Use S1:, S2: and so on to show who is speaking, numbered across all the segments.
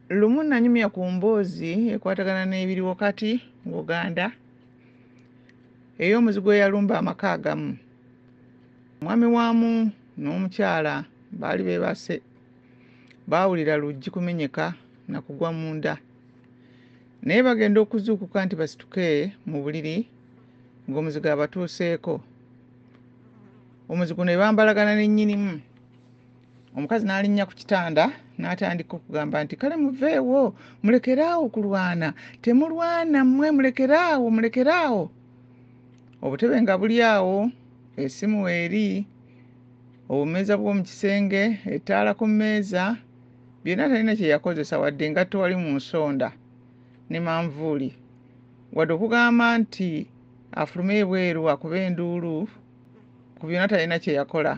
S1: lumu nanyumya ku mboozi ekwatagana n'ebiriwo kati ng'oganda ey'omuzigu eyalumba amaka agamu omwami waamu n'omukyala baali beebase baawulira luggi kumenyeka na kugwa munda naye bagenda okuzuukuka nti basituke mu buliri ng'omuzigo abatuuseeko omuzigo ne bambalagana ne nnyinimu omukazi n'alinnya ku kitanda n'atandika okugamba nti kale muveewo mulekeraawo kulwana temulwana mmwe mulekeraawo mulekeraawo obutebe nga buli awo esimu eri obumeeza bw'omu kisenge ettaala ku mmeeza byonna talina kye yakozesa wadde engatto wali mu nsonda ne manvuuli wadde okugamba nti afulume ebweru akuba enduulu ku byonna talina kye yakola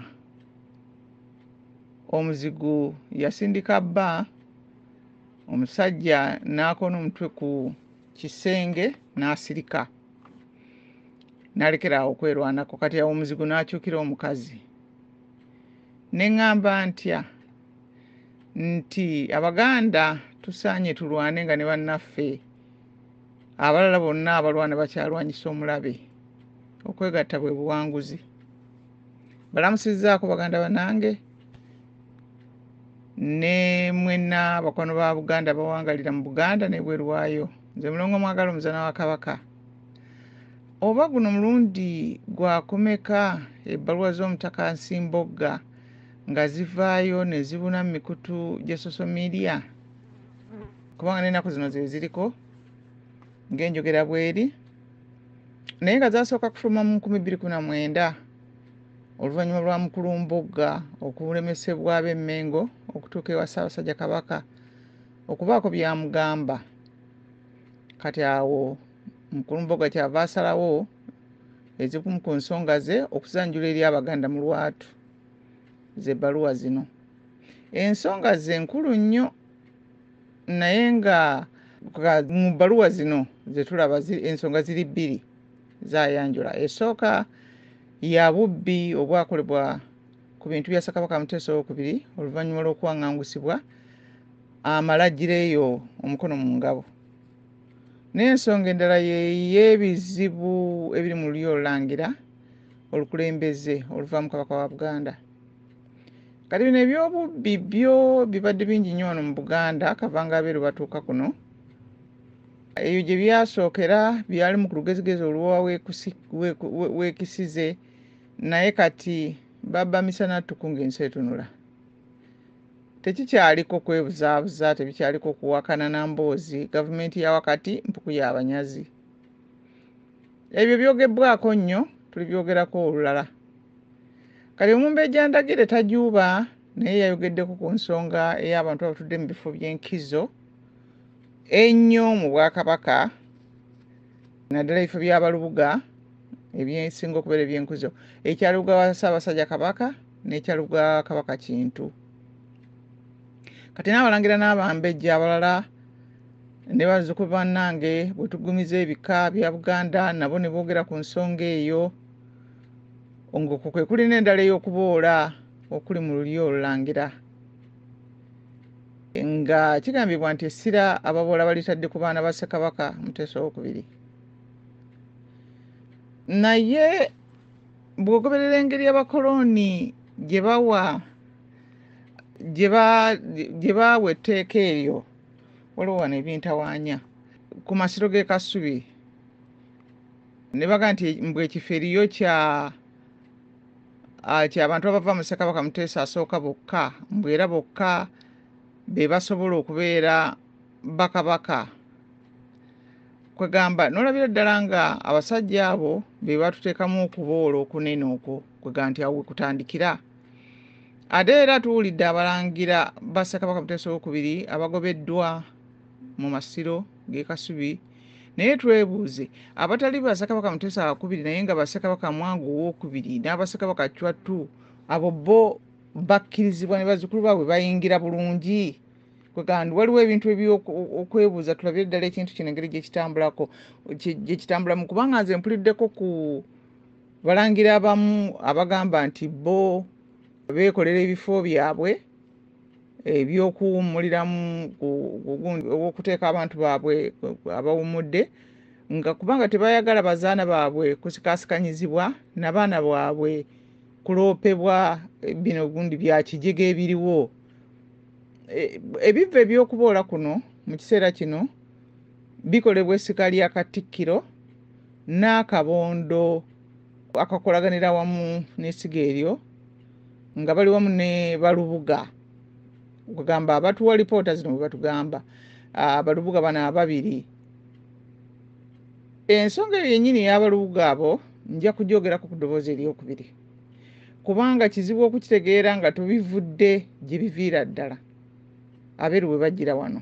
S1: omuzigu yasindika bba omusajja n'akoona omutwe ku kisenge n'asirika nalekera awo okwerwanako kati awo omuzigu n'akyukira omukazi ne ŋŋamba ntya nti abaganda tusaanye tulwane nga ne bannaffe abalala bonna abalwana bakyalwanyisa omulabe okwegatta bwe buwanguzi balamusizaako baganda banange ne mwena bakwano ba buganda bawangalira mu buganda nebweru waayo nze mulongo mwagala omuzana wa kabaka oba guno mulundi gwakumeka ebbaluwa z'omutaka nsimbogga nga zivaayo ne zibuna mu mikutu gya social media kubanga n'ennaku zino ze ziriko ng'enjogera bweri naye nga zasooka kufuluma mu nkumi bbiri kuna mwenda oluvannyuma lwa mukulu mbugga okulemesebwa ab'emmengo okutuuka ewa ssaabasajja kabaka okubaako byamugamba kati awo mukulu mbugga kyava asalawo ezikumu ku nsonga ze okuzanjula eri abaganda mu lwatu z'ebbaluwa zino ensonga ze nkulu nnyo naye nga mu bbaluwa zino zetulaba ensonga ziri bbiri zayanjula esooka ya bubbi obwakolebwa ku bintu bya sakabaka muteesa owokubiri oluvannyuma lw'okuwangangusibwa amala gireyo omukono mu ngabo n'ensonga endala yeyebizibu ebiri mu lulyo olulangira olukulembeze oluvaamu kabaka wa buganda kati bino ebyobubbi byo bibadde bingi nnyo wano mu buganda akavanga abeeru batuuka kuno ebyo gye byasookera byali mu ku lugezigezi oluwa wekisize naye kati baba misana ttuku ng'ensi etunula tekikyaliko kwebuzaabuza tebikyaliko kuwakana na mboozi gavumenti ya wakati mpuku y'abanyazi ebyo byogebbwako nnyo tulibyogerako olulala kati omumbejja ndagire tajuuba naye yayogeddeko ku nsonga ey'abantu abatudde mu bifo by'enkizo ennyo mu bwakabaka naddala ebifo by'abalubuga ebyensinga okubeera ebyenkuzo ekyalubuga wa ssaabasajja kabaka n'ekyalubuga wa kabaka kintu kati n'abalangira n'abambejja abalala ne bazzukulu bannange bwe tugumiza ebika bya buganda nabo ne boogera ku nsonga eyo ng'okwo kwe kuli n'endala ey'okuboola okuli mu lulyo olulangira nga kigambibwa nti essira ababoola balitadde ku baana ba ssekabaka muteesa owokubiri naye bw'ogoberera engeri abakolooni gye bawa gye baawa etteeka eryo waliwo wano ebintawaanya ku masiro g'e kasubi ne baga nti mbu ekifo eriyo kya ah, kyabantu abava mu ssekabaka muteesa asooka bokka mbu era bokka be basobola okubeera bakabaka kwegamba nolabira ddala nga abasajja abo be batuteekamu okuboola okunene okwo kwega nti awo wekutandikira ate era tuwulidde abalangira ba ssekabaka muteesa owokubiri abagobeddwa mu masiro gekasubi naye twebuuze abatali ba ssekabaka muteesa wakubiri naye nga bassekabaka mwangu owokubiri n'abassekabaka cwattu abo bo bakkirizibwa ne bazzukulu baabwe bayingira bulungi kwegandi waliwo ebintu ebyokwebuuza tulabire ddala ekintu kino engeri gyekitambulako gyekitambulamu kubanga nze mpuliddeko ku Abalangira abamu abagamba nti bo beekolera ebifo byabwe ebyokuwummuliramu okuteeka abantu baabwe abawummudde nga kubanga tebayagala bazaana baabwe kusikasikanyizibwa nabaana bwabwe kuloopebwa bino gundi byakijega ebiriwo e, ebivva ebyokuboola kuno mu kiseera kino bikolebwa essika lya Katikkiro n'akabondo akakolaganira wamu n'essiga eryo nga bali wamu ne balubuga okugamba abatuwa lipoota zino bwe batugamba abalubuga bano ababiri ensonga eyo yennyini ey'abalubuga abo nja kugyogerako ku ddoboozi eryokubiri kubanga kizibu okukitegeera nga tubivudde gye biviira ddala abeeru bwe bajjira wano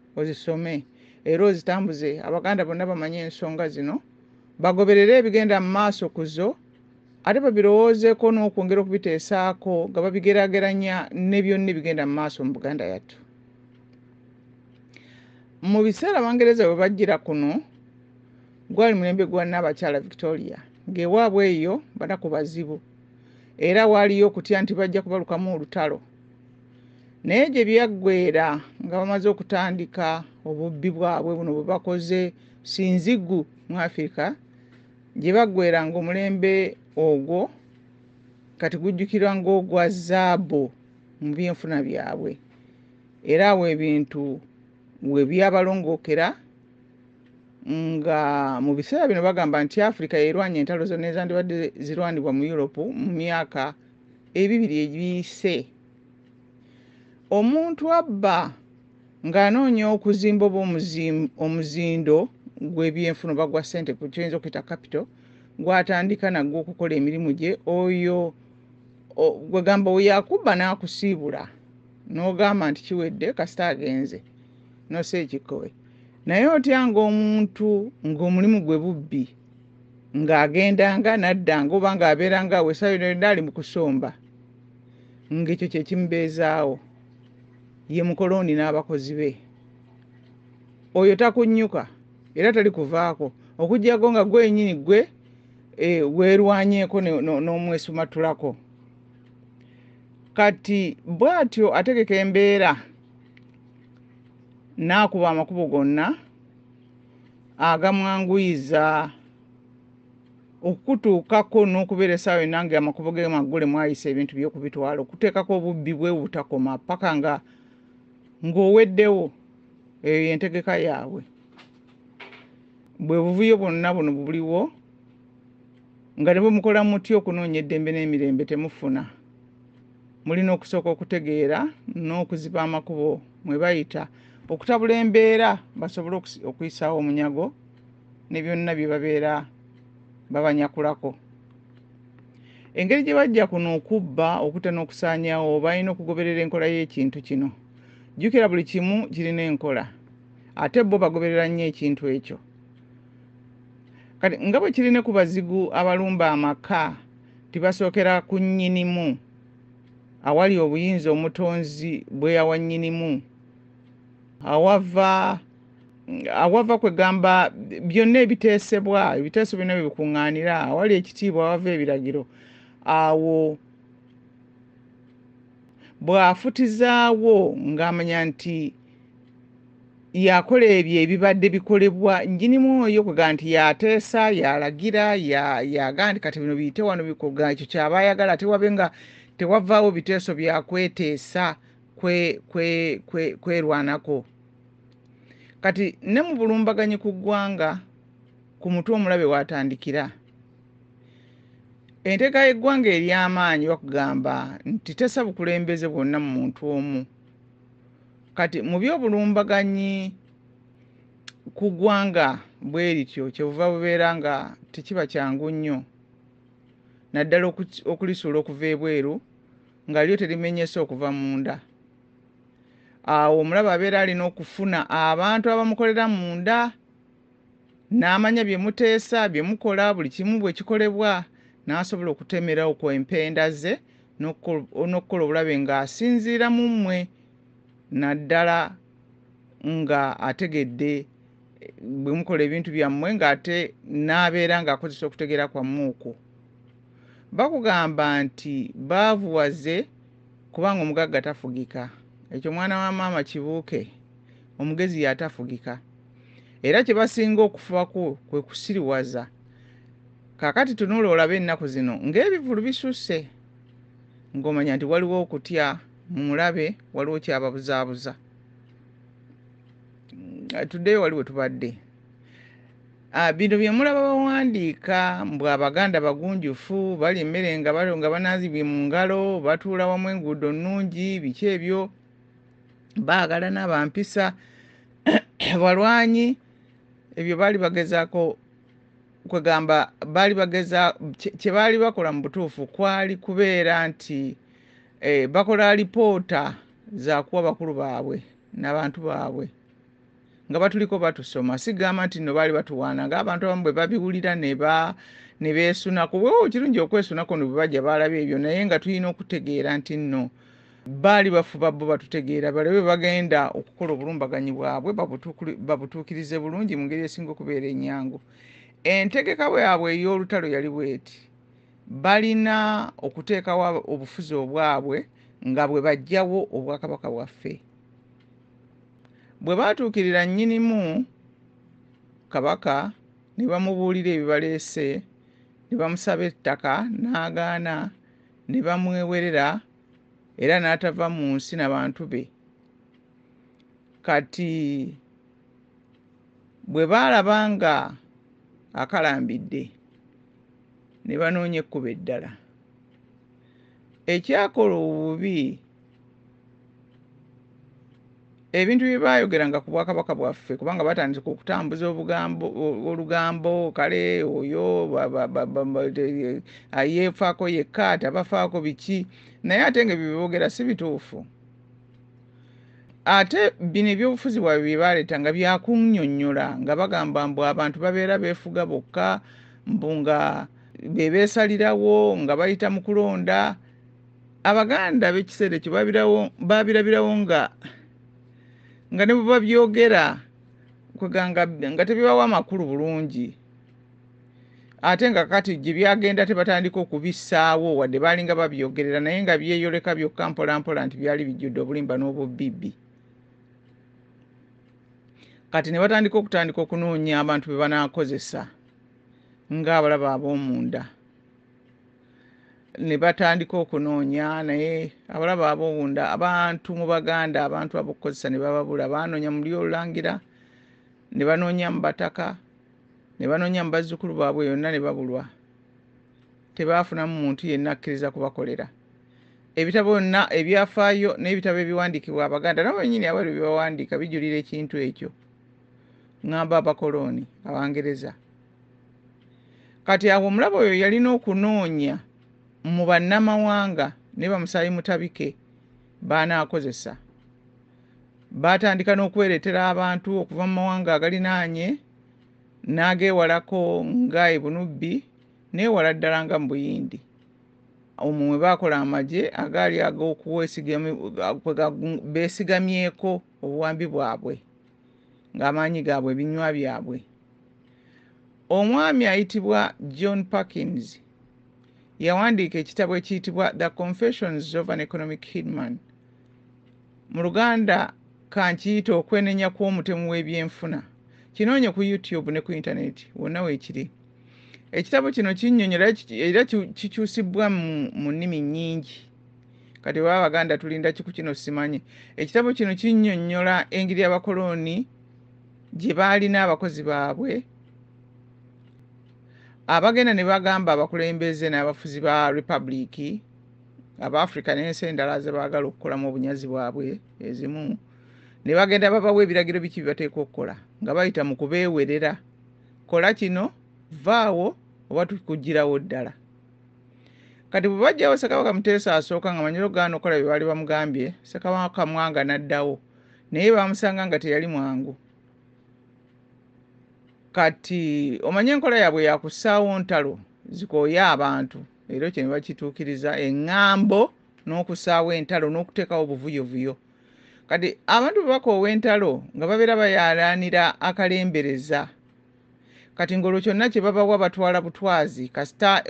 S1: ozisome era ozitambuze abaganda bonna bamanye ensonga zino bagoberere ebigenda mu maaso ku zo ate babirowoozeeko n'okwongera okubiteesaako nga babigerageranya ne byonna ebigenda mu maaso mu buganda yattu mu biseera abangereza bwe bajjira kuno gwali mulembe gwa nnaabakyala victoria ng'ewaabwe eyo banaku bazibu era waaliyo okutya nti bajja kubalukamu olutalo naye gye byaggweera nga bamaze okutandika obubbi bwabwe buno bwe bakoze sinzigu mu afirika gye baggweera ng'omulembe ogwo kati gujjukirwa ng'ogwa zaabu mu byenfuna byabwe era awo ebintu we byabalongookera nga mu biseera bino bagamba nti afirika yerwanya entalo zonna ezandibadde zirwanibwa mu europe mu myaka ebibiri ebiyise omuntu abba ng'anoonya okuzimba oba omuzindo gw'ebyenfuna oba gwa ssente ku kyoyinza okuyita kapito gw'atandika nagwo okukola emirimu gye oyo gwegamba we yakubba n'akusiibula n'ogamba nti kiwedde kasita agenze nosa ekikkowe naye otya ng'omuntu ng'omulimu gwe bubbi ng'agendanga naddanga oba ng'abeeranga awo essaawa yona yonna ali mu kusomba ng'ekyo kye kimubeezaawo ye mukolooni n'abakozi be oyo takunnyuka era tali kuvaako okuggyako nga gwenyini gwe eh, weerwanyeeko n'omwesumattulako kati bw'atyo ategeka embeera n'akuba amakubo gonna agamwanguyiza okukutuukako n'okubeera essaawa yonna nga amakubo ge maggule mwayisa ebintu by'okubitwala okuteekako obubbi bwe obutakoma paka nga ng'oweddewo eyo yentegeka yaabwe bwe buvuyo bwonna buno buliwo nga ne bwe mukola mutya okunoonya eddembe n'emirembe temufuna mulina okusooka okutegeera n'okuziba amakubo mwe bayita okutabula embeera basobole okuyisaawo omunyago ne byonna bye babeera babanyakulako engeri gye bajja kuno okubba okuta n'okusaanyawo balina okugoberera enkola y'ekintu kino jjukira buli kimu kirina enkola ate bo bagoberera nnyo ekintu ekyo kati nga bwe kirina ku bazigu abalumba amaka nti basookera ku nnyinimu awali obuyinza omutonzi bwe yawa nnyinimu awava awava kwegamba byonna ebiteesebwa ebiteeso byonna bye bikuŋŋaanira awali ekitiibwa awava ebiragiro awo bw'afutizaawo ng'amanya nti yakola ebyo ebibadde bikolebwa nnyinimu oyo kwegamba nti yateesa yalagira yaga nti kati bino biyite wano bikoga ekyo kyaba ayagala ate wabe nga tewavaawo biteeso byakweteesa kwerwanako kati ne mu bulumbaganyi ku ggwanga ku mutwe omulabe watandikira enteeka y'eggwanga ery'amaanyi bakugamba nti tesa bukulembeze bwonna mu muntu omu kati mu byobulumbaganyi ku ggwanga bwe lityo kyebuva bubeera nga tekiba kyangu nnyo naddala okulisuula okuva ebweru nga lyo terimenyese okuva munda awo omulaba abeera alina okufuna abantu abamukolera munda N'amanya bye muteesa, bye mukola, buli kimu bwe kikolebwa, n'asobola okutemera okwo empenda ze n'okukola obulabe ng'asinziira mu mmwe naddala nga ategedde bwe mukola ebintu byammwe ng'ate n'abeera ng'akozesa okutegeera kwammwe okwo. Bakugamba nti baavuwaze kubanga omugagga tafugika. Ekyo mwana wa maama kibuuke. Omugezi y'atafugika. era kye basinga okufubako kwe kusiriwaza kakati tunula olabe ennaku zino ng'ebivulu bisusse ng'omanya nti waliwo okutya mu mulabe waliwo kyababuzaabuza mm, tuddeyo wali we tubadde ah, bino bye mulaba bawandiika mbw abaganda bagunjufu bali emmere nga balo nga banaazibwe mu ngalo batuula wamu enguudo nnungi biki ebyo baagalana bampisa balwanyi ebyo baali bagezaako kwegamba baali bageza kye baali bakola mu butuufu kwali kubeera nti eh, bakola lipoota zakuwa bakulu baabwe nabantu baabwe nga batuliko batusoma sigamba nti no baali batuwaana nga abantu abamu bwe babiwulira neba nebeesunako wewo kirungi okwesunako no bwebajja baalaba ebyo naye nga tulina okutegeera nti nno baali bafuba bo batutegeera balabe bagenda okukola obulumbaganyi bwabwe babutuukirize bulungi mu ngeri esinga okubeera enyangu entegeka bwabwe ey'olutalo yali bweti balina okuteekawo obufuzi obwabwe nga bwe bajjawo obwakabaka bwaffe bwe baatuukirira nnyinimu kabaka ne bamubuulira ebibaleese ne bamusaba ettaka n'agaana ne bamwewerera era n'atava mu nsi na bantu be kati bwe baalaba nga akalambidde ne banoonya ekkubo eddala ekyakola obubi ebintu bye baayogeranga ku bwakabaka bwaffe kubanga batandika okutambuza obugambo olugambo kale oyo ayeefaako yekka tabafaako biki naye ate nga ebyo byeboogera si bituufu ate bino ebyobufuzi bwabwe bye baleeta nga byakunyonyola nga bagamba mbu abantu babeera beefuga bokka mbu nga bebeesalirawo nga bayita mu kulonda abaganda b'ekiseera ekyo baabirabirawo nga nga ne bwe babyogera kweganga nga tebibawa amakulu bulungi ate nga kati gye byagenda tebatandika okubissaawo wadde baalinga babyogerera naye nga byeyoleka byokka mpolampola nti byali bijjudde obulimba n'obubibbi kati ne batandika okutandika okunoonya abantu be banaakozesa ng'abalaba ab'omunda ne batandika okunoonya naye abalaba abowunda abantu mu baganda abantu abokukozesa ne bababula baanoonya muli olulangira ne banoonya mu bataka ne banoonya mu bazzukulu baabwe yonna ne babulwa tebaafunamu muntu yenna akkiriza kubakolera ebitabo byonna ebyafaayo n'ebitabo ebiwandiikibwa abaganda nabo benyini abali byebawandiika bijulira ekintu ekyo ŋŋamba abakolooni abangereza kati awo omulaba oyo yalina okunoonya mu bannamawanga ne bamusaayi mutabike baanaakozesa baatandika n'okwereetera abantu okuva mu mawanga agalinaanye n'ageewalako nga ebunubbi neewala ddala nga mu buyindi omwo mwe baakola amagye agaali ag'okubeesigamyeko obuwambi bwabwe ng'amaanyi gaabwe ebinywa byabwe omwami ayitibwa john parkins yawandiika ekitabo ekiyitibwa the confessions of an economic hidman mu luganda kankiyita okwenenya kw'omutemu w'ebyenfuna kinoonye ku youtube ne ku intaneti wonna weekiri ekitabo kino kinyonyola era kikyusibbwa mu nnimi nnyingi kati oba abaganda tulinda kiku kino simanyi ekitabo kino kinyonyola engeri abakolooni gye baalina abakozi baabwe abagenda ne bagamba abakulembeze n'abafuzi ba republiki aba africa n'ensi endala ze baagala okukolamu obunyazi bwabwe ezimu ne bagenda babawa ebiragiro biki bibateeka okukola nga bayita mu kubeewerera kola kino vaawo oba tukugirawo ddala kati bwe bajjawo ssekabaka muteesa asooka nga manyiro gaana okukola bye baali bamugambye ssekabaka mwanga n'addawo naye baamusanga nga teyali mwangu kati omanye enkola yaabwe yakussaawo ntalo zikooye abantu era ekyo ne bakituukiriza eŋŋambo n'okussaawo entalo n'okuteekawo obuvuyovuyo kati abantu bwe bakoowa entalo nga babeera bayalanira akalembereza kati ngolwo kyonna kyebabawa batwala butwazi kasita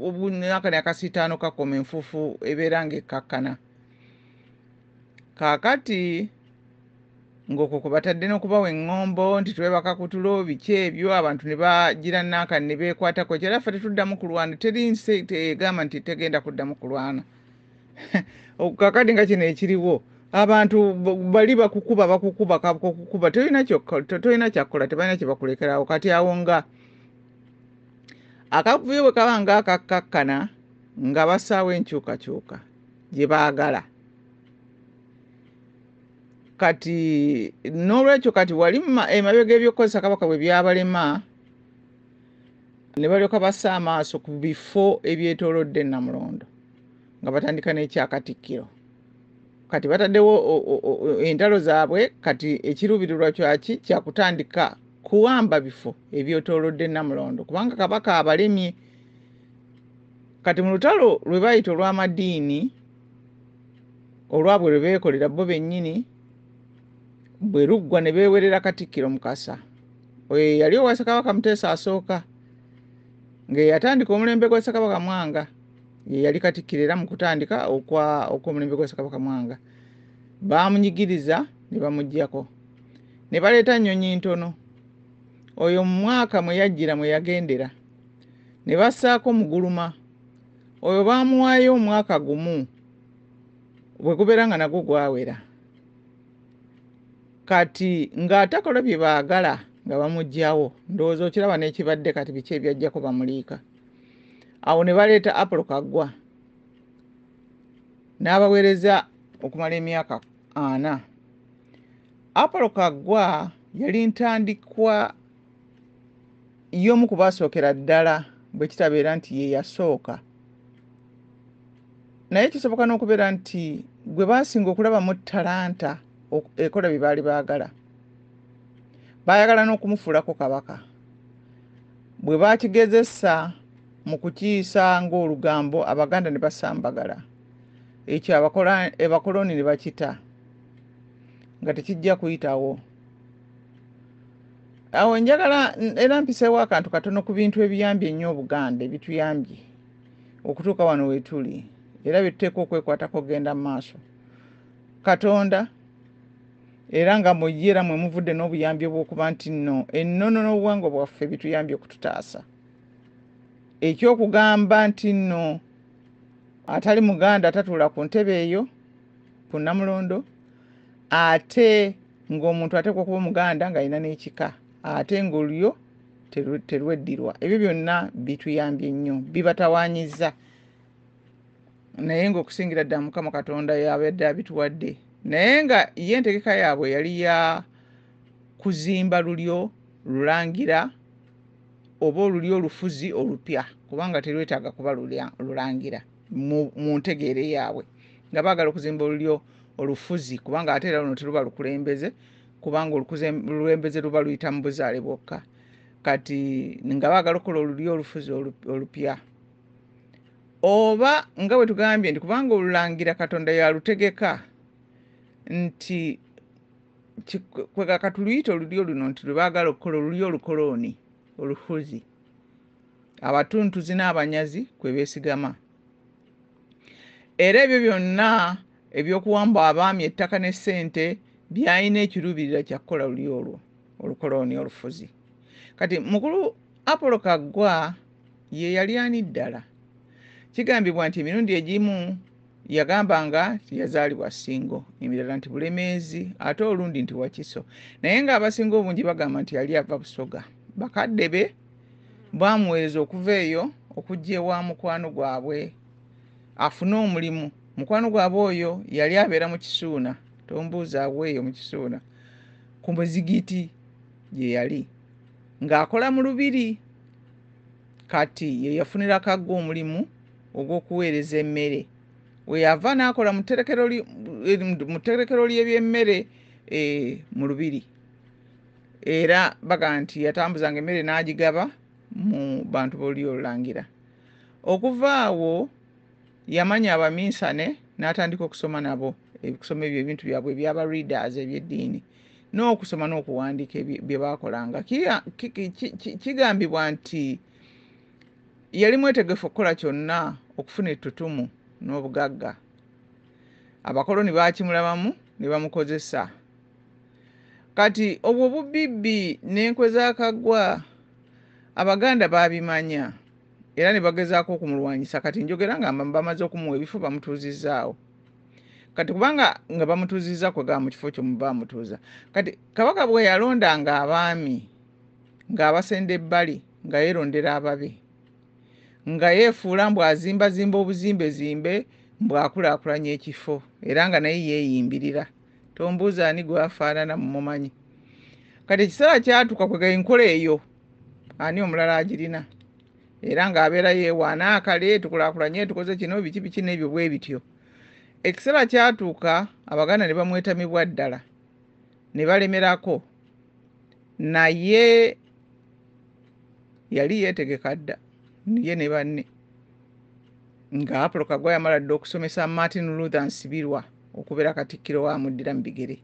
S1: obunakani akasiitaano kakoma enfuufu ebeera ngaekkakkana kaakati ng'okwo kwe batadde n'okubawa eŋŋombo nti twebaka kutulo biki ebyo abantu ne bagira nankani ne beekwatako kyera ffe tetuddamu kulwana teri nsi egamba nti tegenda kuddamu kulwana kakati nga kino ekiriwo abantu bali bakukuba bakukuba kakukuba tolina tolina kyakukola tebalina kyebakulekerawo kati awo nga akavuyo bwe kaba nga akakkakkana nga basaawo enkyukakyuka gye baagala kati n'olwekyo kati wali emabega ebyokukozesa kabaka bwe byabalema ne balyoka bassa amaaso ku bifo ebyetoolodde namulondo nga batandika n'ekyakatikkiro kati bataddewo entalo zaabwe kati ekiruubirirwa kyaki kyakutandika kuwamba bifo ebyetoolodde namulondo kubanga kabaka abalemye kati mu lutalo lwe bayita olw'amadiini olwabwe lwe beekolera bo bennyini bwe luggwa ne beewerera katikkiro mukasa oyo yeyali owa sakabaka muteesa asooka ng'eyatandika omulembe gwa sakabaka mwanga ye yali katikkiro era mu kutandika okw'omulembe gwa sakabaka mwanga baamunyigiriza ne bamugyako ne baleeta nnyonyi ntono oyo mu mwaka mwe yajjira mwe yagendera ne bassaako muguluma oyo baamuwaayo omwaka gumu bwe gubeera nga nagwo gwawera kati ng'atakola bye baagala nga bamugyawo ndowooza okiraba n'ekibadde kati biki ebyajjako bamuliika awo ne baleeta apolo kaggwa n'abaweereza okumala emyaka ana apolo kaggwa yali ntandikwa y'omu ku baasookera ddala bwe kitabeera nti ye yasooka naye kisoboka n'okubeera nti gwe baasinga okulabamu talanta ekola bye baali baagala baayagala n'okumufuulako kabaka bwe baakigezesa mu kukiyisa ng'olugambo abaganda ne basambagala ekyo abakoloni ne bakita nga tekijja kuyitawo awo njagala era mpiseewo akantu katono ku bintu ebiyambye ennyo obuganda ebituyambye okutuuka wano wetuli era byetuteeka okwekwatako okugenda mu maaso katonda era nga mu ye era mwe muvudde n'obuyambi obw'okuba nti nno ennono n'obuwangwa bwaffe bituyambye okututaasa eky'okugamba nti nno atali muganda atatuula ku ntebe eyo ku namulondo ate ng'omuntu ateekwa okuba omuganda ng'alina n'ekika ate ng'olulyo terweddirwa ebyo byonna bituyambye nnyo bibatawaanyiza naye ngaokusingira ddala mukama katonda yabadde abituwadde naye nga ye entegeka yaabwe yali ya kuzimba lulyo lulangira oba olulyo olufuzi olupya kubanga terwetaaga kuba lulangira mu ntegeere yaabwe nga baagala okuzimba olulyo olufuzi kubanga ate era luno teruba lukulembeze kubanga olukulembeze luba luyita mu buzaale bwokka kati nga baagala okukola olulyo olufuzi olupya oba nga bwe tugambye nti kubanga olulangira katonda yalutegeka nti kwekatuluyita olulyo luno nti lwe baagala okukola olulyo olukolooni oluhuzi abatuntuzi n'abanyazi kwe beesigama era ebyo byonna ebyokuwamba abaami ettaka ne ssente byalina ekiruubirira kya kukola luli olwo olukolooni olufuzi kati mukulu apolo kaggwa ye yali ani ddala kigambibwa nti emirundi egimu yagamba nga yazaalibwa singo emirala nti bulemeezi ate olundi nti wakiso naye ng'abasinga obungi bagamba nti yali ava busoga bakadde be baamuweereza okuva eyo okujja ewa mukwano gwabwe afune omulimu mukwano gwabwe oyo yali abeera mu kisuuna tombuuza abweeyo mu kisuuna ku muzigiti gye yali ng'akola mu lubiri kati ye yafunira kagga omulimu ogw'okuweereza emmere we yava n'akola mu tterekero ly'ebyemmere eh, mu lubiri era baga nti yatambuzanga emmere n'agigaba mu bantu b'olulyo olulangira okuva awo yamanya abaminsane n'atandika okusoma nabo ebikusoma ebyo ebintu byabwe ebyaba readers eby'eddiini n'okusoma n'okuwandiika bye baakolanga kigambibwa nti yali mwetegefu okukola kyonna okufuna ettutumu n'obugagga abakoloni baakimulabamu ne bamukozesa kati obwo bubibbi n'enkwe z'akaggwa abaganda baabimanya era ne bagezaako okumulwanyisa kati njogera nga bamaze okumuwa ebifo bamutuuzizzaawo kati kubanga nga bamutuuzizza kwegaba mu kifo kyomu bamutuuza kati kabaka bwe yalonda nga abaami ng'abasenda ebbali nga yeerondera ababe nga yeefuula mbw azimbazimba obuzimbe zimbe mbw akulaakulanya ekifo era nga naye yeeyimbirira tombuuza ani gwafaanana mumumanyi kati ekiseera kyatuuka kwega enkola eyo ani omulala agirina era ng'abeera yeewaana akale tukulakulanye tukoze kino biki biki n'ebyo bwe bityo ekiseera kyatuuka abaganda ne bamwetamibwa ddala ne balemerako naye yali yeetegeka dda ye ne banne nga apolo kagwa yamala dda okusomesa martin luther nsibirwa okubeera katikkiro waamuddira mu bigere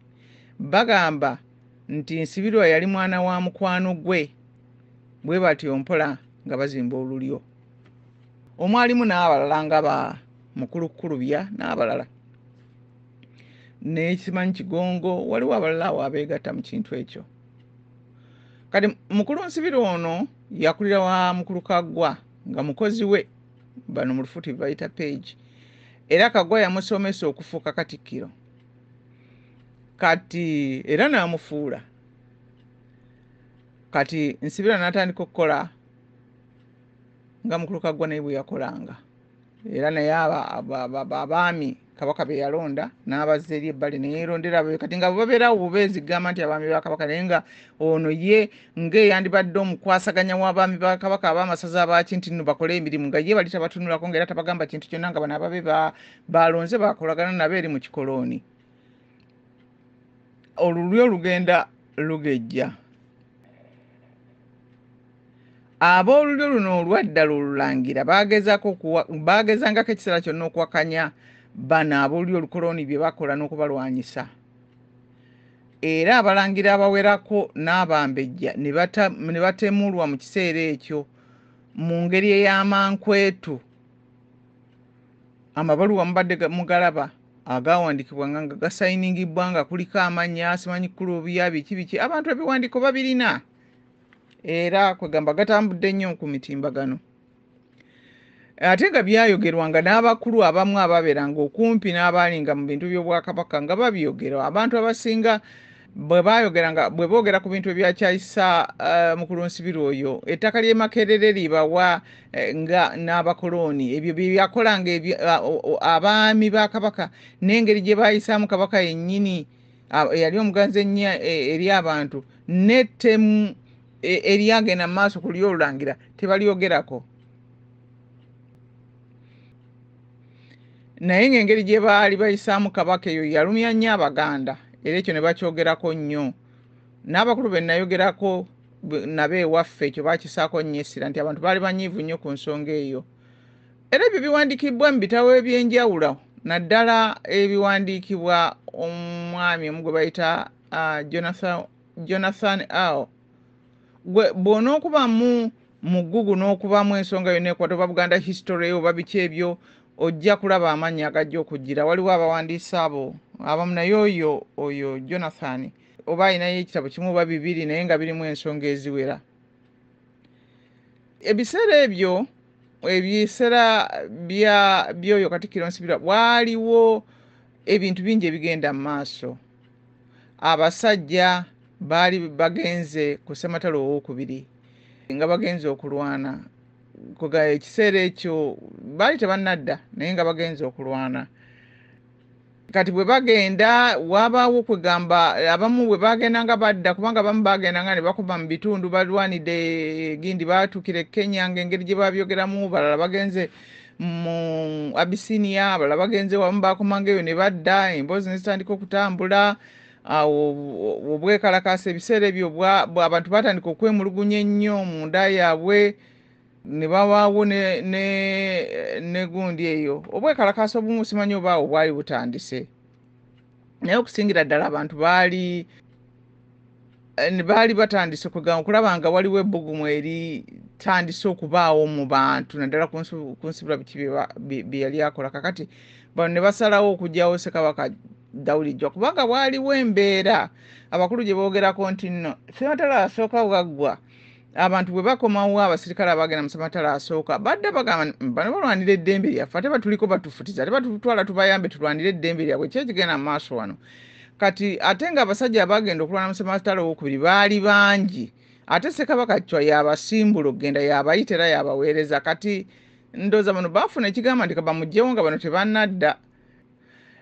S1: bagamba nti nsibirwa yali mwana wa mukwano gwe bwe batyo mpola nga bazimba olulyo omwalimu n'abalala nga ba mukulu kukulubya n'abalala nekimanyi kigongo waliwo abalala awo abeegatta mu kintu ekyo kati mukulu nsibiri ono yakulira wa mukulu kaggwa nga mukozi we bano mu lufuti bebayita page era kaggwa yamusomesa okufuuka katikkiro kati era n'amufuula kati nsibira natandika okukola nga mukuluka gwa naye bwe yakolanga era naye abaami kabaka be yalonda n'abazza eri ebbali ne yeerondera ababe kati nga babeerawo bubeezi gamba nti abaami ba kabaka naye nga ono ye ng'eyandibadde omukwasaganya w'abaami ba kabaka ab'amasaza abaaki nti nno bakole emirimu nga ye bali tabatunulako ngaera tabagamba kintu kyonna nga bano ababe baalonze bakolagana nabo eri mu kikolooni olulyo lugenda lugejja ab'olulyo luno olwaddala olulangira baagezangako ekiseera kyonna okuwakanya bano ab'olulyo olukoloni bye bakola n'okubalwanyisa era abalangira abawerako n'abambejja ne batemulwa mu kiseera ekyo mu ngeri ey'amankwetu Amabaluwa mubadde mugalaba agaawandikibwa nga nga gasayiningibbwa nga kuliko amannya simanyi kukulu obuya biki biki abantu ebiwandiiko babirina era kwegamba gatambudde nnyo ku mitimbagano ate nga byayogerwa nga n'abakulu abamu ababeeranga okumpi n'abaalinga mu bintu by'obwakabaka nga babyogera abantu abasinga bwe baayogera nga bwe boogera ku bintu ebyakyayisa eh, mukulu nsibiri oyo ettaka ly'e makerere libawa eh, nga n'abakolooni ebyo bye byakola nga abaami ba kabaka n'engeri gye baayisaamu kabaka yennyini eyali omuganzi ennyo eh, eri abantu n'ettemu eryagenda mu maaso ku ly'olulangira tebalyogerako naye ng'engeri gye baali bayisaamu kabaka eyo yalumya nnyo abaganda era ekyo ne bakyogerako nnyo n'abakulu be nayogerako nabo ewaffe ekyo bakisaako nnyo essira nti abantu baali banyiivu nnyo ku nsonga eyo era ebyo biwandiikibbwa mu bitabo eby'enjawulo naddala ebiwandiikibwa omwami omu gwe bayita ah, jonathan al gwe bw'onookubamu mu ggugu n'okubamu ensonga yonna ekwata oba buganda history oba biki ebyo ojja kulaba amaanyi agajja okujjira waliwo abawandiisa abo abamu naye oyo oyo jonathan oba alinayo ekitabo kimu oba bibiri naye nga birimu ensonga eziwera ebiseera ebyo ebiseera byoyo katikiro nsibirwa waaliwo ebintu bingi ebigenda mu maaso abasajja baali bagenze ku ssematalo owokubiri nga bagenze okulwana ekiseera ekyo baali tebannadda naye nga bagenze okulwana kati bwe bagenda wabaawo kwegamba abamu bwe bagenda nga badda kubanga abamu bagenda nga ne bakuba mu bitundu balwanidde gindi baatukira e kenya ngaengeri gye babyogeramu balala bagenze mu abisiniya abalala bagenze wamu bakomanga eyo ne badda emboozi ne zitandika okutambula awo obwekalakaasa ebiseera ebyo abantu batandika okwemulugunya ennyo mu nda yaabwe ne bawaawo ne gundi eyo obwekalakaasa obumu simanyi obaawo bwali butandise naye okusingira ddala abantu baali eh, baali batandise kwegamba okulaba nga waliwo ebbugumu eritandise okubaawo mu bantu naddala ku nsibula biki bye yali akola kakati bano ne basalawo okugyawo sekabaka dawudi jwa kubanga waaliwo embeera abakulu gye boogerako nti nno sematala asooka waggwa abantu bwe bakomawo abasirikale abagenda mu samatala asooka badda bagamba bano balwanira eddembe lyaffe ate batuliko batufutiza ate batutwala tubayambe tulwanire eddembe lyabwe ki ekigenda mu maaso wano kati ate nga abasajja abagenda okulwana mu samatala owokubiri baali bangi ate sekabaka cwa yabasimbula okugenda yabayita era yabaweereza kati ndooza bano baafuna ekigamba nti kabamugyewo nga bano tebanadda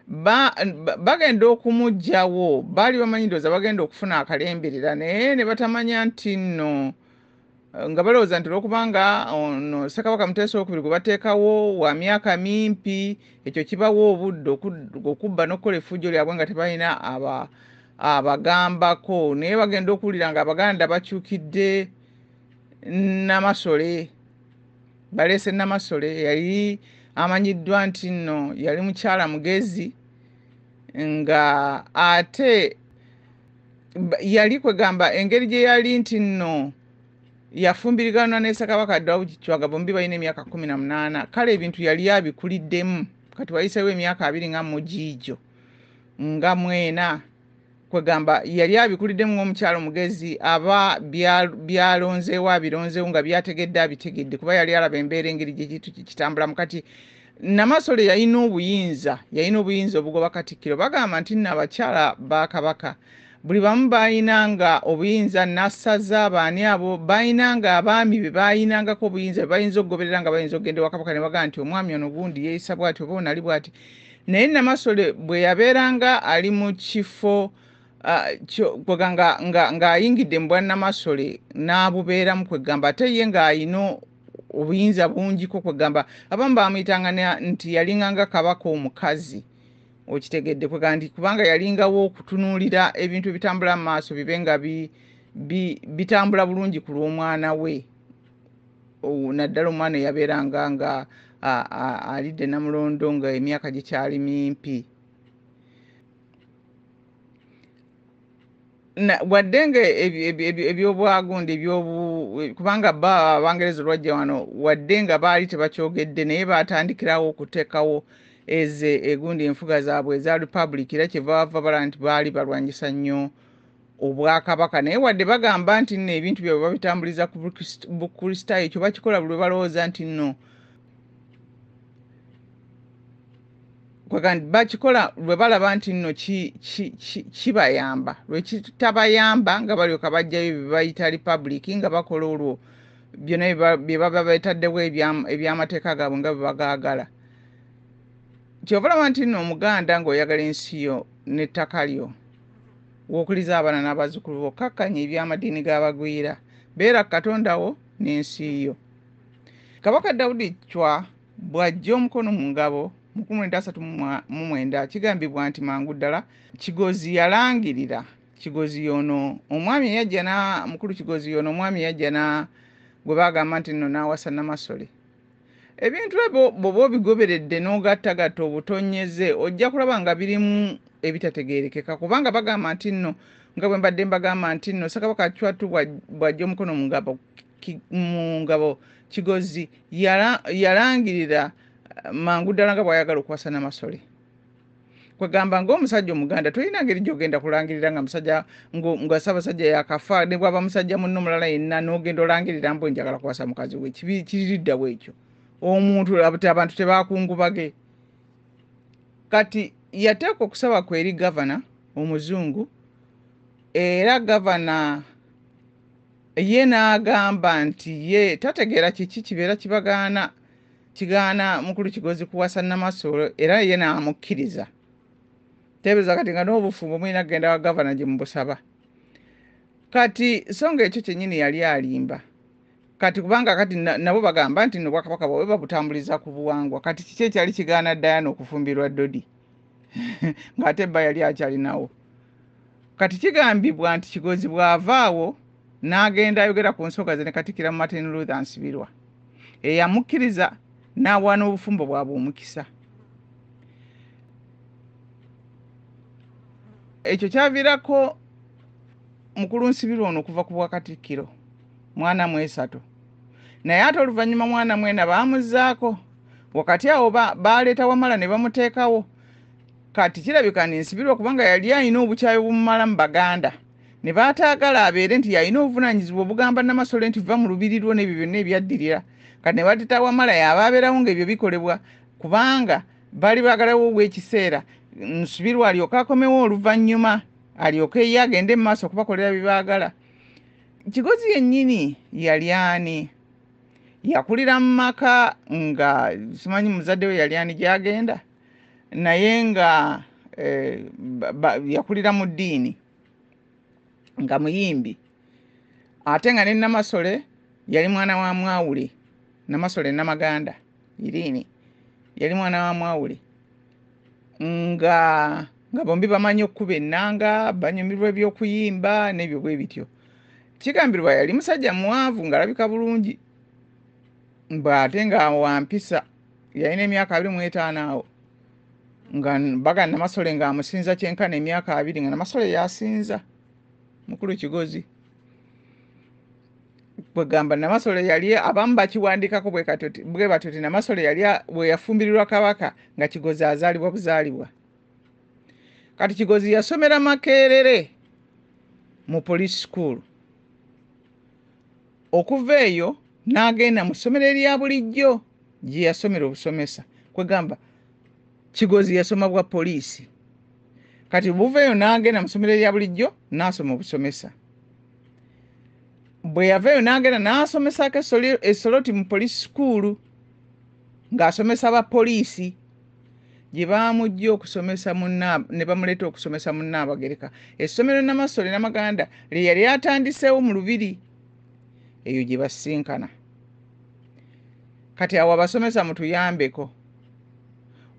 S1: bagenda okumugjawo baali bamanyi ndowooza bagenda okufuna akalemberera naye ne batamanya nti nno eh, nga balowooza nti olwokubanga ono ssekabaka muteesa okubiri gwe bateekawo wa myaka mimpi ekyo kibawo obudde okubba n'okukola efujjo lyabwe nga tebalina abagambako naye bagenda okuwulira nga abaganda bakyukidde namasole baleese namasole eyali amanyiddwa nti nno yali mukyala mugezi nga ate yali kwegamba engeri gye yali nti nno yafumbiriganwa nesakabaka dawukichwaga bombi balina emyaka kumi na munaana kale ebintu yali abikuliddemu kati wayisewo emyaka abiri nga mugiijo nga mwena kwegamba yali abikuliddemu ng'omukyalo mugezi aba byalonzeewo abironzeewo nga byategedde abitegedde kuba yali alaba embeera engeri gyekintu kitambulamu kati namasole yalina obuyinza yalina obuyinza obugoba katikkiro bagamba nti nno abakyala ba kabaka buli bamu balina nga obuyinza nasaza abaani abo balina nga abaami be balinangako obuyinza bebayinza okugoberera nga bayinza okugenda ewakabaka ne bagamba nti omwami ono gundi yeeyisa bwati oba onali bwati naye namasole bwe yabeeranga ali mu kifo ng'ayingidde mu bwannamasole n'abubeeramu kwegamba ate ye ng'alina obuyinza bungiko kwegamba abamu baamuyitanga nti yalinganga kabaka omukazi okitegedde kwegamba nti kubanga yalingawo okutunuulira ebintu ebitambula mu maaso bibe nga bitambula bulungi ku lw'omwana we naddala omwana eyabeeranga nga alidde namulondo nga emyaka gikyali mimpi wadde nga ebyobwagundi kubanga ba abangereza olwajja wano wadde nga baali tebakyogedde naye baatandikirawo okutekawo eze egundi enfuga zaabwe eza republic era kyeva bava bala nti baali balwanyisa nnyo obwakabaka naye wadde bagamba nti nno ebintu byabwe babitambuliza ku bukristaayo ekyo bakikola buli lwebalowooza nti nno bakikola lwe balaba nti nno kibayamba lwekitabayamba nga balyoka bajjayo byebayita republic nga bakola olwo byona byebaba betaddewo ebyamateeka gaabwe nga bwebagaagala kyova olaba nti nno omuganda ngaoyagala ensi yo n'ettaka lyo w'okuliza abaana n'abazzukulu bo kkakkanya eby'amadiini g'abagwira beera katonda wo n'ensi yo kabaka dawudi cwa bw'ajja omukono mu ngabo mu kumi mwenda asatu mu mwenda kigambibwa nti mangu ddala kigozi yalangirira kigozi yono omwami eyajja na mukulu kigozi yono omwami eyajja na gwe bagamba nti nno n'awasa namasole Ebintu ebyo bw'oba obigoberedde n'ogattagatta obutonnyeze ojja kulaba nga birimu ebitategeerekeka kubanga bagamba nti nno nga bwe mbadde mbagamba nti nno Ssekabaka Chwatu bw'ajja omukono mu ngabo mu ngabo Kigozi yalangirira eh, mangu ddala nga bw'ayagala okuwasa Namasole. kwegamba ngaomusajja omuganda tolina ngeri gyogenda kulangirira nga musajja nga sabasajja yakafa nebwaba musajja munno mulala yenna nogenda olangirira mbu enjagala kuwasa mukazi we kiririddawo ekyo omuntu abantu tebakungubage kati yateekwa okusaba kwe eri gavana omuzungu era gavana ye n'agamba nti ye tategeera kiki kibeera kibagaana kigaana mukulu kigozi kuwasa namasoolo era ye n'amukkiriza teebereza kati nga n'obufumbo mulina kugenda wa gavana gye mubusaba kati so nga ekyo kyennyini yali alimba kati kubanga kati nabo bagamba nti no bwakabaka bwawe babutambuliza ku buwangwa kati kiki ekyali kigaana dayana okufumbirwa dodi ng'ate bba yali akyalinawo Kati kigambibwa nti Kigozi bw'ava awo n'agenda ayogera ku nsonga ze ne Katikkiro Martin Luther Nsibirwa eyamukkiriza n'awa n'obufumbo bwabwe omukisa. Ekyo kyaviirako mukulu Nsibirwa ono okuva ku bwakatikkiro mwana mwesatu naye ate oluvannyuma mwana mwena baamuzzaako wakati awo baaleeta Wamala ne bamuteekawo kati kirabika nensibirwa kubanga yali alina obukyayi obumumala mu baganda ne baataagala abeere nti yalina obuvunaanyizibwa obugamba namasole nti va mu lubiri lwo n'ebyo byonna ebyaddirira kati ne batita wamala yaaba abeerawo ng'ebyo bikolebwa kubanga baali baagalawo obw'ekiseera nsubirwa alyoke akomewo oluvannyuma alyoke ye agende mu maaso okubakolera bye baagala kigozi yennyini yali ani yakulira mu maka nga simanyi muzadde we yali ani gy'agenda naye nga eh, yakulira mu ddiini nga muyimbi ate nga ne namasole yali mwana wa mwawule namasole namaganda iriini yali mwana wa mwawule nga nga bombi bamanyi okukuba ennanga banyumirwa ebyokuyimba n'ebyo bwe bityo kigambirwa yali musajja muwanvu ng'alabika bulungi mbw'ate nga wampisa yalina emyaka abiri mu etaano awo nga baga namasole ng'amusinza kyenkana emyaka abiri nga namasole yasinza mukulu kigozi kwegamba namasole yali abamu bakiwandiikako bwe batyo ti namasole yali bweyafumbirirwa kabaka nga kigozi azaalibwa buzaalibwa kati kigozi yasomera makerere mu police school Okuva eyo n'agenda mu ssomero erya bulijjo gye yasomera obusomesa kwegamba Kigozi yasoma bwa poliisi kati buva eyo n'agenda mu ssomero erya bulijjo n'asoma obusomesa bwe yava eyo n'agenda n'asomesaako esoloti mu poliisi sukuulu ng'asomesa ba poliisi gye baamuggye okusomesa ne bamuleeta okusomesa mu nnaabagereka essomero namasole namaganda lye yali atandiseewo mu lubiri eyo gye basisinkana kati awo abasomesa mutuyambeko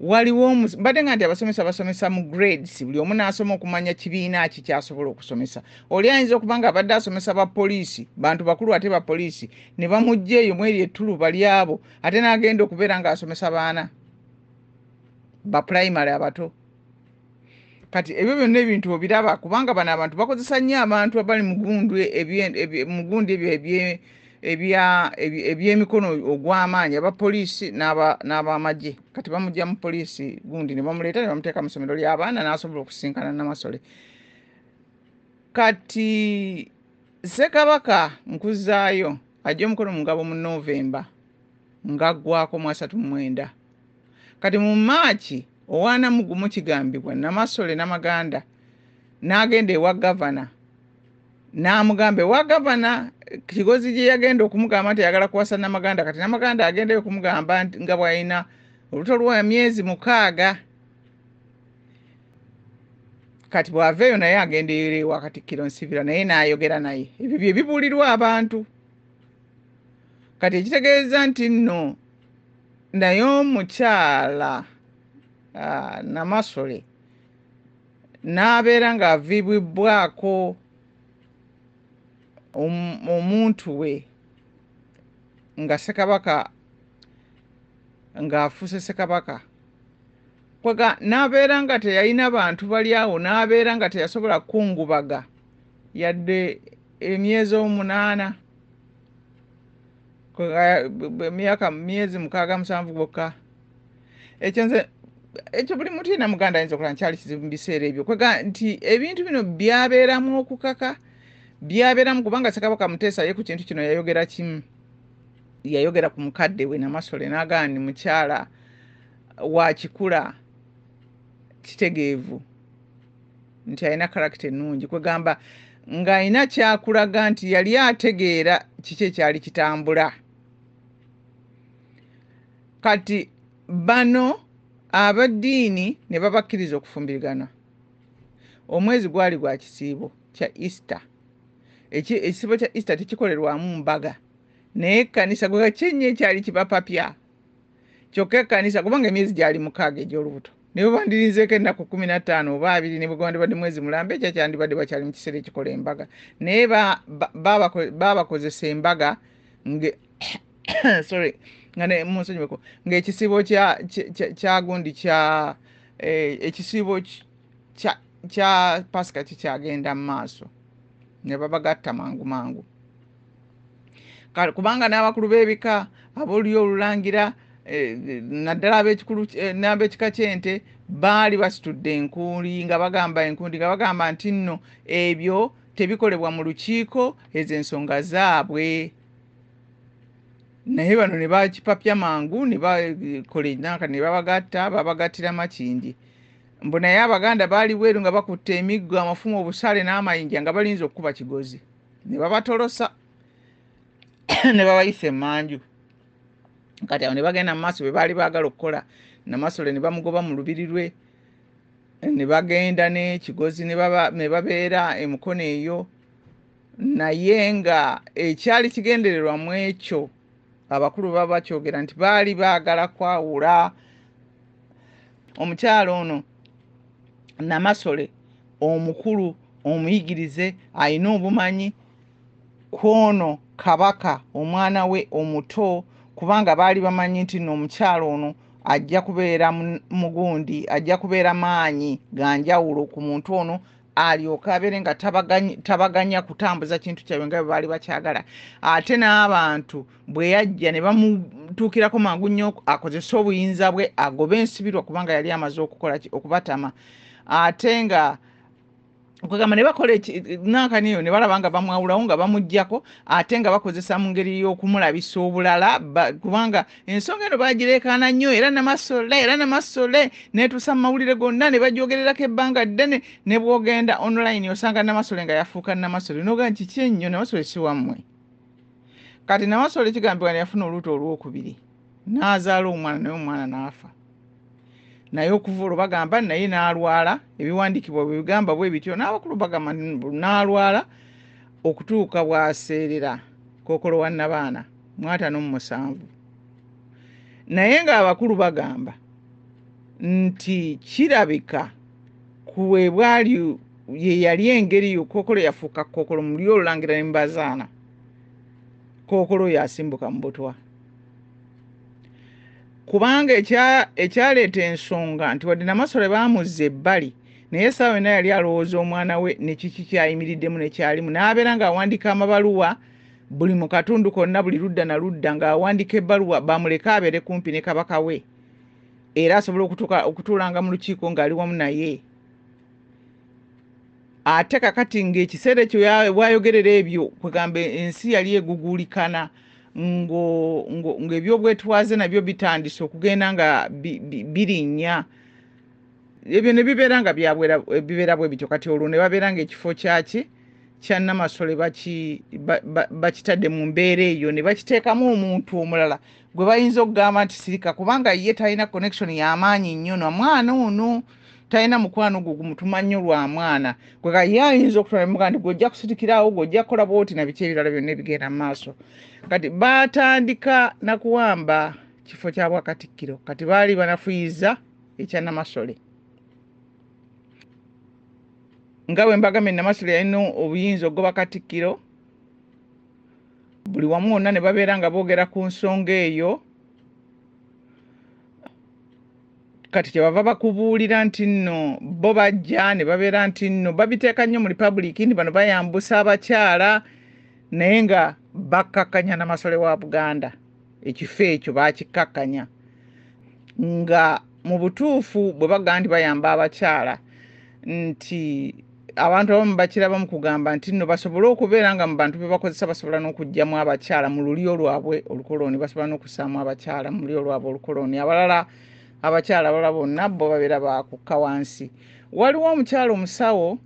S1: waliwo mbadde nga nti abasomesa basomesa mu grades buli omu naasoma okumanya kibiina ki kyasobola okusomesa oli ayinza okuba nga abadde asomesa ba poliisi bantu bakulu ate ba poliisi ne bamugja eyo mweri ettuluba lyabo ate n'agenda okubeera ng'asomesa baana ba primary abato kati ebyo byonna ebintu obiraba kubanga bano abantu bakozesa nnyo abantu abali mugundu mugundi ebyo ebyemikono ogw'amaanyi aba poliisi n'abamagye kati bamugya mu poliisi gundi ne bamuleeta ne bamuteeka mu ssomero ly'abaana n'asobola okusinkana namasole kati ssekabaka nkuzaayo ajja omukono mungabo mu novemba ng'aggwako mu asatu mu mwenda kati mu maaki owaana mu gumu kigambibwa namasole namaganda n'agenda ewa gavana n'amugamba ewa gavana kigozi gye yagenda okumugamba nti ayagala kuwasa namaganda kati namaganda agendayo okumugamba nga bwalina oluto lwa myezi mukaaga kati bw'ava eyo naye agenda eyo ewa katikkiro nsibira naye n'ayogera naye ebyo bye bibuulirwa abantu kati ekitegeeza nti nno naye omukyala ah, namasole n'abeera ng'aviibwibbwako omuntu we nga ssekabaka ng'afuuse ssekabaka kwega n'abeera nga teyalina bantu bali awo n'abeera nga teyasobola kukungubaga yadde emyezi omunaana myaka myezi mukaaga musanvu gwokka ekyo nze ekyo buli mutu yena muganda ayinza okulaba nkyali kizibu mubiseera ebyo kwega nti ebintu bino byabeeramu okukaka byabeeramu kubanga sekabaka muteesa ye ku kintu kino yayogera kimu yayogera ku mukadde we namasole nagaa ni mukyala wakikula kitegeevu nti alina karakita ennungi kwegamba ng'alina kyakulaga nti yali ategeera kiki ekyali kitambula kati bano abaddiini ne babakkiriza okufumbirigana omwezi gwali gwa kisiibo kya easter ekisiibo kya easter tekikolerwamu mbaga naye ekkanisa gwe kyenyo ekyali kibapapya kyokka ekkanisa kubanga emyezi gyali mukaaga egy'olubuto ne bwe bandirinzeeko ennaku kumi na ttaano oba abiri ne bwe gwandibadde mwezi mulamba ekyo kyandibadde bakyali mu kiseera ekikola embaga naye baabakozesa embaga sorry nga munsonyiweko ng'ekisiibo kyagundi kya eh, ekisiibo kya pasika kikyagenda mu maaso ne babagatta mangu mangu kubanga n'abakulu b'ebika abolulyo olulangira eh, naddala eh, n'abekika ky'ente baali basitudde enkuuli nga bagamba enkundi nga bagamba nti nno ebyo tebikolebwa mu lukiiko ezo ensonga zaabwe naye bano ne bakipapya mangu ne bakola enaka ne babagatta babagattira makindi mbu naye abaganda baali bweru nga bakutte emiggo amafumu obusaale n'amayinja nga balinza okukuba kigozi ne babatolosa ne babayisa emanju kati awo ne bagenda mu maaso bwe baali baagala okukola namasole ne bamugoba mu lubiri lwe ne bagenda n'ekigozi ne babeera emukono eyo naye nga ekyali kigendererwa mu ekyo abakulu baba bakyogera nti baali baagala kwawula omukyalo ono namasole omukulu omuyigirize alina obumanyi kwono kabaka omwana we omuto kubanga baali bamanyi nti no omukyalo ono ajja kubeera mugundi ajja kubeera maanyi ganjawulo ku muntu ono alyoke abeere nga tabaganya kutambuza kintu kyabwe nga bwe baali bakyagala ate n'abantu bwe yajja ne bamutuukirako mangu nnyo akozese obuyinza bwe agobe ensibirwa kubanga yali amaze okukola okubatama ate nga kwegamba ne bakola nankani eyo ne balaba nga bamwawulawo nga bamugjako ate nga bakozesa mu ngeri y'okumulabisa obulala kubanga ensonga eno bagireekaana nnyo era namasole era namasole netuusa mu mawulire gonna ne bagyogererako ebbanga ddene ne bwogenda online osanga namasole nga yafuuka namasole noga nti ki ennyo namasole si wammwe kati namasole kigambibwa ne yafuna oluuto olwokubiri n'azaala omwana naye omwana n'afa naye okuva olwo bagamba naye n'alwala ebiwandiikibwa bwe bigamba bwe bityo n'abakulu bagamba n'alwala okutuuka bw'aseerera kookolo wa nnabaana mu ataano mu musanvu naye ng'abakulu bagamba nti kirabika ku bwe bwali ye yali engeri yo kookolo yafuuka kookolo mu lyo olulangira ne mubazaana kookolo oyo asimbuka mu butwa kubanga ekyaleeta ensonga nti wadde namasole baamuzza ebbali naye essaawa yonna yali alowooza omwana we ne kiki kyayimiriddemu ne kyalimu n'abeera ng'awandiika amabaluwa buli mu katundu konna buli ludda na ludda ng'awandiika ebbaluwa bamuleke abeere kumpi ne kabaka we era asobole okutuulanga mu lukiiko ng'ali wamu naye ate kakati ng'ekiseera ekyo wayogerera ebyo kwegamba ensi yali eguguulikana ng'ebyobwetwaze nabyo bitandise okugenda nga birinnya bi, bi, bi, ebyo ne bibeera nga bibeera bwe bityo kati olwo ne babeera ngaekifo kyaki kya namasole bakitadde mu mbeera eyo ne bakiteekamu omuntu omulala gwe bayinza okugamba nti sirika kubanga ye talina connection yamaanyi nnyo na mwana ono talina mukwano gwo gumutuma nnyo lwa mwana kweka ye ayinza okutulamuga nti gwojja kusitikirawo gwojja kukola bwoti na biki ebirala byonna ebigenda mu maaso kati baatandika nakuwamba kifo kya bwakatikkiro kati baali banafuyiza ekya namasole nga bwe mbagambye namasole yalina obuyinza okugoba katikkiro buli wamu wonna ne babeera nga boogera ku nsonga eyo kati kyebava bakubuulira nti nno bo bajja ne babeera nti nno babiteeka nnyo mu republic nti bano bayambusa abakyala naye nga bakkakkanya namasole wa buganda ekifo ekyo bakikkakkanya nga mu butuufu bwe bagamba nti bayamba abakyala nti abantu abamu bakiraba mu kugamba nti nno basobole okubeera nga mu bantu be bakozesa basobola n'okugyamu abakyala mu lulyo lwabwe olukolooni basobola n'okusaamu abakyala mu lulyo lwabwe olukolooni abalala abakyala abalala bonna bo babeera bakukka wansi waliwo omukyala omusawo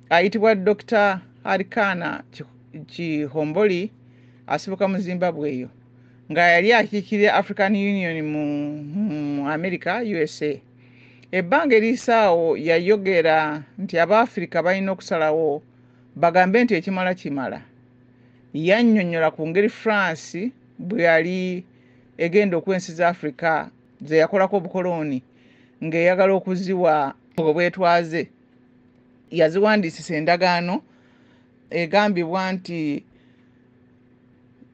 S1: ayitibwa dokita arikana kihomboli ki asibuka mu zimbabwe eyo nga yali akiikirira african union mu, mu america usa ebbanga erisaawo yayogera nti abaafirika balina okusalawo bagambe nti ekimala kimala yannyonnyola ku ngeri france bwe yali egenda okwensi za afrika ze yakolako obukolooni ng'eyagala okuziwa obwetwaze yaziwandiisisa endagaano egambibwa nti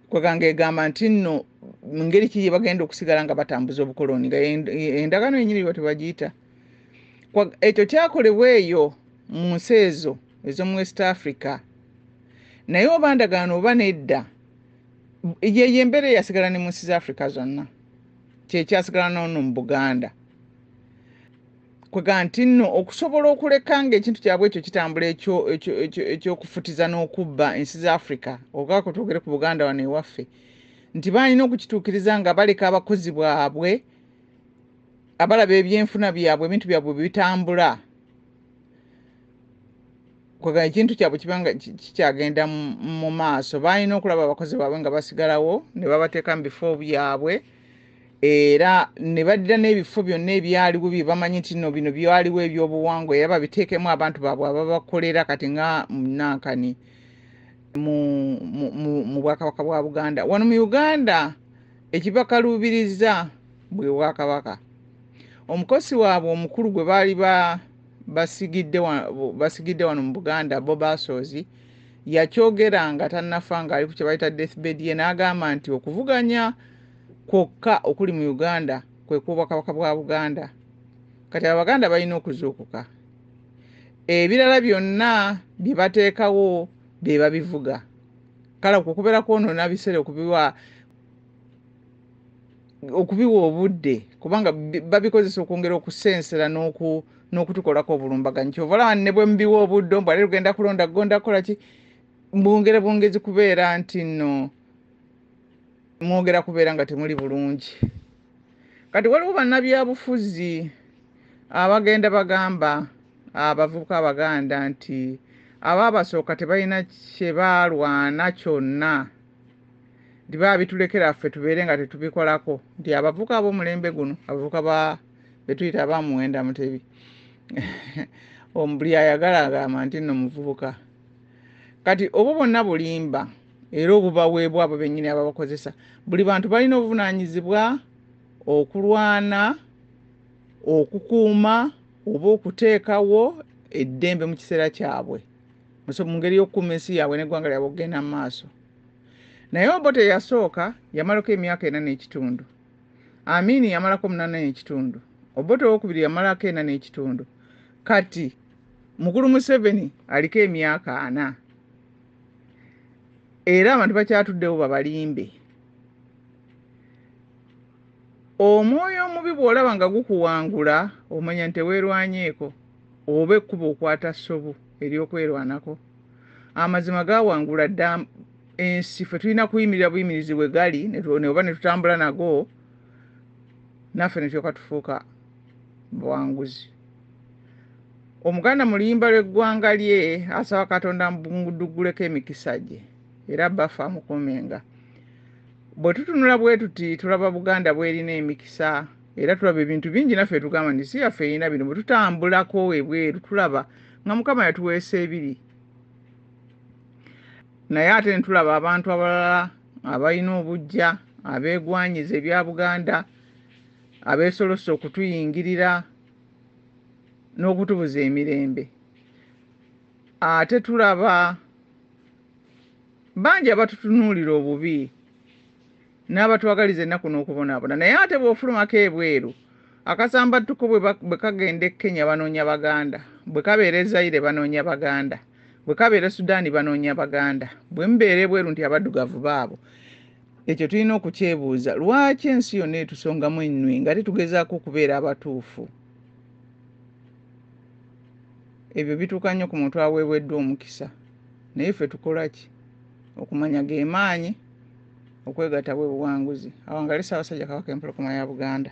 S1: kweganga egamba nti nno mu ngeri ki gyebagenda okusigala nga batambuza obukoloni nga endagaano yenyini bwe tebagiyita ekyo kyakolebwa eyo mu nsi ezo ez'omu west africa naye oba ndagaano oba nedda yeyo embeera eyasigala ne mu nsi za africa zonna kyekyasigala nono mu buganda kwega nti nno okusobola okuleka nga ekintu kyabwe ekyo kitambula ekyokufutiza n'okubba ensi za africa ogako twogere ku buganda wano ewaffe nti balina okukituukiriza nga baleka abakozi bwabwe abalaba ebyenfuna byabwe ebintu byabwe bitambula kwegala ekintu kyabwe kibanga kikyagenda mu maaso balina okulaba abakozi baabwe nga basigalawo ne babateeka mu bifo byabwe era ne baddira n'ebifo byonna ebyaliwo bye bamanyi nti no bino byaliwo ebyobuwangwa era babiteekemu abantu baabwe ababakolera kati nga munankani mu bwakabaka bwa buganda wano mu uganda ekibakaluubiriza bwe bwakabaka omukosi waabwe omukulu gwe baali ba basigidde wano mu buganda bo basoozi yakyogera nga tannafa ng'ali ku kyebayita deathbed ye n'agamba nti okuvuganya kwokka okuli mu uganda kwe kwobwakabaka bwa buganda kati abaganda balina okuzuukuka ebirala byonna bye bateekawo be babivuga kale okukubeera kwonoona biseera okubiwa okubiwa obudde kubanga babikozesa okwongera okusensera n'oku n'okutukolako obulumbaganyi kyova olaba ne bwe mubiwa obuddo mbwale lugenda kulonda gonda kukola ki mwongere bwongezi kubeera nti no mwogera kubeera nga temuli bulungi kati waliwo bannabyabufuzi abagenda bagamba abavubuka abaganda nti abaabasooka tebalina kye baalwana kyonna nti babitulekera ffe tubeere nga tetubikolako nti abavuka abomulembe guno abavuka ba betuyita abamuwenda mutebi omubuli ayagala agamba nti no muvubuka kati obwo bonna bulimba era obubaweebwa abo bennyini ababakozesa buli bantu balina obuvunaanyizibwa okulwana okukuuma oba okuteekawo eddembe mu kiseera kyabwe mu ngeri y'okukuuma ensi yaabwe n'eggwanga lyabwe okugenda mu maaso naye obote yasooka yamalako emyaka ena n'ekitundu amiini yamalako munana n'ekitundu obote owokubiri yamalako ena n'ekitundu kati mukulu museveni aliko emyaka ana era abantu bakyatuddewo babalimbe Omwoyo omubi bw'olaba nga gukuwangula omanya nti teweerwanyeeko oba ekkubo okwata ssobu ery'okwerwanako. Amazima gaawangula dda ensi, ffe tulina kuyimirira buyimirizi we gali oba ne tutambula nago naffe ne tulyoka tufuuka bawanguzi. Omuganda mu luyimba lw'eggwanga lye asaba Katonda amudugguleko emikisa gye era bbaffe amukuumenga. bwe tutunula bwe tuti tulaba buganda bwerina emikisa era tulaba ebintu bingi naffe tugamba nti si yaffe erina bino bwe tutambulako ebweru tulaba nga mukama yatuweesa ebiri naye ate netulaba abantu abalala abalina obujja abeegwanyiza ebya buganda abeesolose okutuyingirira n'okutubuza emirembe ate tulaba Bangi abatutunuulira obubi n'abatwagaliza ennaku n'okubonaabona naye ate bw'ofulumako ebweru akasambattuko bwe kagenda e Kenya banoonya Baganda, bwe kabeera e Zaire banoonya Baganda, bwe kabeera e Sudan banoonya Baganda, bwe mubeera ebweru nti Abaddugavu baabo. Ekyo tulina okukyebuuza, lwaki ensi yonna etusongamu ennwe nga ate tugezaako okubeera abatuufu? Ebyo bituuka nnyo ku muntu aweeweddwa omukisa. naye ffe tukolaki okumanya gemaanyi okwegata bwe buwanguzi awangale Ssaabasajja Kabaka Empologoma ya Buganda.